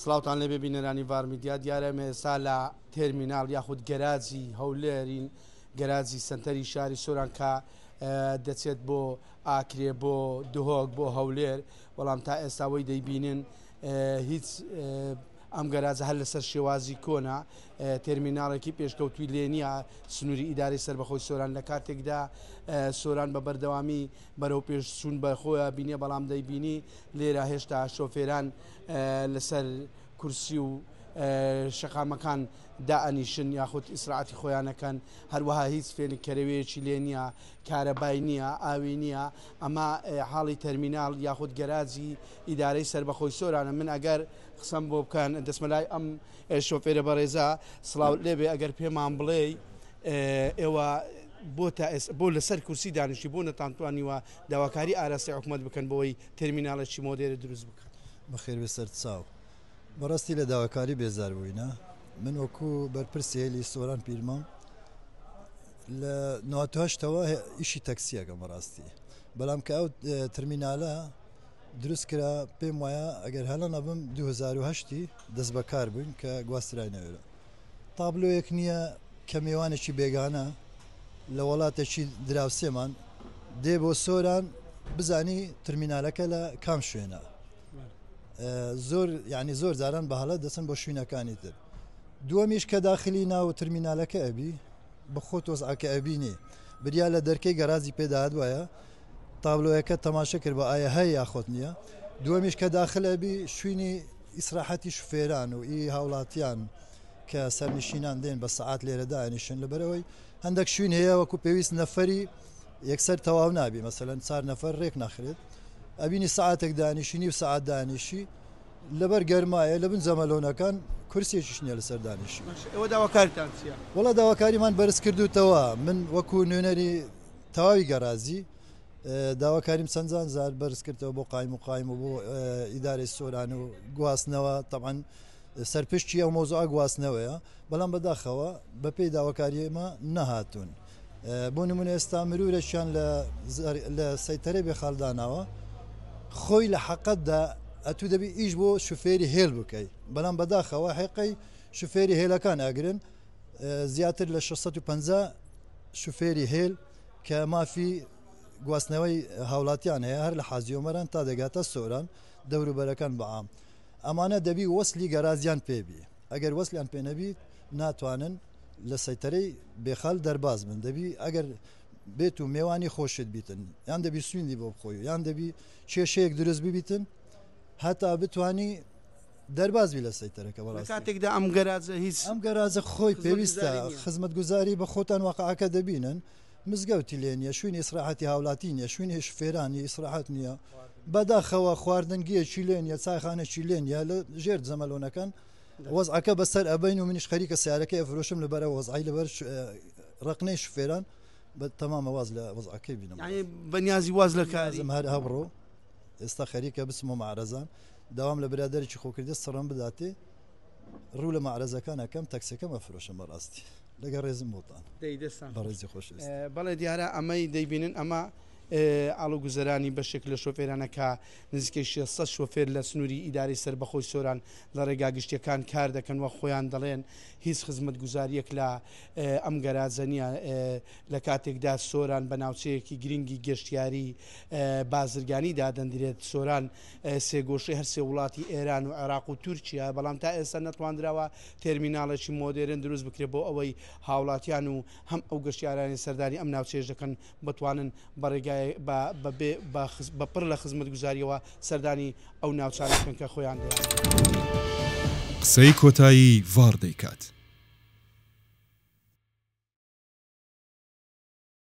سڵاوتان لێبێ بینەرانی ڤار میدیا دیارە ئێمە ئێستا لە تێرمینال یاخود گەراجی هەولێرین گەراجی سنتەری شاری سۆران کە دەچێت بۆ ئاکرێ بۆ دهۆک بۆ هەولێر بەڵام تا ئێستاوەی دەیبینن هیچ ئەم گەراجە هەر لەسەر شێوازی کۆنا تەرمیناڵێکی پێشکەوتوی لێ نیە سنووری ئیداری سربەخۆی سۆران لە کاتێکدا سۆران بە بەردەوامی بەرەو پێش چوون بە خۆیان بینێ بەڵام دەیبینی لێرە هێشتا شۆفێران لەسەر کورسی و شەقامەکان دائەنیشن یاخود ئیسراعاتی خۆیانەکەن هەروەها هیچ فێنکەرەوەیەکی لێ نییە کارەبای نییە ئاوی نییە ئەمە حاڵی تەرمینال یاخود گەراجی ئیدارەی سربەخۆی سۆرانە من ئەگەر قسەم بۆ بکەن دەسمەلای ئەم شۆفێرە بەڕێزە سلااو لێبێ ئەگەر پێمان بڵێ ئێوە بۆ تا ئێس بۆ لەسەر کورسی دانیشتی بۆ نەتانتوانیوە داواکاری ئاراستەی حکوومەت بکەن بۆی تەرمینالێکی مۆدێرە دروست بکات بەخێربێ سەر چاو بەڕاستی لە داواکاری بێزار بووینە من وەکو بەرپرسی هێلی سۆران پیرمام لە ناتهشتەوە ئیشی تەکسیەکەم بەڕاستی بەڵام کە ئەو ترمینالە دروست کرا پێم وایە ئەگەر هەڵە نەبم 2010 دەست بەکار بووین کە گواسترای نەوێرە تابلۆیەک نییە کە مێوانێکی بێگانە لە وەڵاتێکی دراوسێمان دێ بۆ سۆران بزانی ترمینالەکە لە کام شوێنە زۆر یعنی زۆر جاران بە هەڵە دەچن بۆ شوینەکانی تر دووەمیش کە داخلی ناو ترمینالەکە ئەبی بە خۆ تۆزعکە ئەبینی بریا لە دەرکەی گەرازی پێداات وایە تابلۆیەکە تەماشە کرد بە ئایا هەیە یاخۆت نییە دووەمیش کە داخل ئەبی شوینی ئیسراحەتی شوفێران و ئی هاوڵاتیان کە سەرنشینان دێن بە سەعات لێرە دائەنیشن لەبەرەوەی هەندەک شوین هەیە وەکو پێویست نەفەری یەکسەر تەواو نابی مەسەلەن چار نەفەر رێک ناخرێت ئەبینی سعاتێک دانیشینی و سعات دانیشی لەبەر گەرمایە لە بن جەمەلۆنەکان کورسێکیش نیە لەسەر دانیشی ئەوە داواکارتان چیە؟ وەڵا داواکاریمان بەرز کردوتەوە من وەکو نوێنەری تەواوی گەرازی داواکاریم چەندان زار بەرز کردەوە بۆ قایم و قایم و بۆ ئیدارەی سۆران و گواستنەوە تەعاان سەرپشتی ئەو مۆزۆ گواستنەوەیە بەڵام بەداخەوە بە پێی داواکاریمە نەهاتوون بۆ نمونە ئێستا مرورەشیان لە سەیتەرەی بێ خاالداناوە خۆی لە حەقەتدا ئەتو دەبی ئیش بۆ شوفێری هێل بکەی بەڵام بەداخەوە حێقەی شوفێری هێلەکان ئەگرن زیاتر لە 650 شوفێری هێل کە مافی گواستنەوەی هاوڵاتیان هەیە هەر لە حازی ئۆمەران تا دەگاتە سۆران دەوروبەرەکان بەعام ئەمانە دەبی وەسلی گەرازیان پێبی ئەگەر وەسلیان پێ نەبیت ناتوانن لە سەیتەرەی بێخال دەرباز من دەبی ئەگەر بێت و مێوانی خۆشت بیتن یان دەبی سویندی بۆ بخۆی یان دەبی کێشەیەک دروست ببیتن هەتا بتانی دەرباز بی لە سەیتەرەکە بەڕاستی. لە کاتێکدا ئەم گەراجە هیچ. ئەم گەراجە خۆی پێویستە خزمەتگوزاری نییە. خزمەتگوزاری بە خۆتان واقعەکە دەبینن مزگەوتی لێ نییە شوینی ئیسراحەتی هاولاتی نییە شوینی شوفێرانی ئیسراحەت نییە بەداخەوە خواردنگیەکی لێ نییە چایخانەکی لێ نییە لە ژێر جەمەلۆنەکان وەزعەکە بەسەر ئەبەین و منیش خەریکە سەیارەکەی ئەفرۆشم لەبەرە وەزعی لەبەر ڕەقنەی شوفێران بە تەمامە واز لە وەزعەکەی بینم یانی بەنیازی واز لە کاری. لازم هەر ئەبڕۆ. ئێستا خەریکە بچم و معرەزان داوام لە برادێکی خۆکردە سڕم بداتێ ڕوو لە معرەزەکانەکەم تەکسەکەم ئەفرۆشم بەڕاستی لەگە ڕێزم بۆتان بەڕێزی خۆش بەڵێ دیارە ئەمەی دەیبینن ئەمە ئاڵو گوزەرانی بەشێک لە شۆفێرانەکە نزیکەی 600 شۆفێر لە سنووری ئیداری سربەخۆی سۆران لە ڕێگا گشتیەکان کار دەکەن و خۆیان دەڵێن هیچ خزمەت گوزاریەک لە ئەم گەراجەنیە لە کاتێکدا سۆران بە ناوچەیەکی گرنگی گەشتیاری بازرگانی دادەندرێت، سۆران سێگۆشەی هەر سێ وڵاتی ئێران و عێراق و تورکیایە، بەڵام تا ئێستا نەتواندراوە تێرمیناڵێکی مۆدێرن دروست بکرێت بۆ ئەوەی هاوڵاتیان و هەم ئەو گەشتیارانەی سەردانی ئەم ناوچەیەش دەکەن بتوانن بە ڕێگای بە بەبێ بە بە پڕ لە خزمەتگوزارییەوە سەردانی ئەو ناوچانە بکەن کە خۆیان دەیانەوێت. قسەی کۆتایی ڤاڕ دەیکات.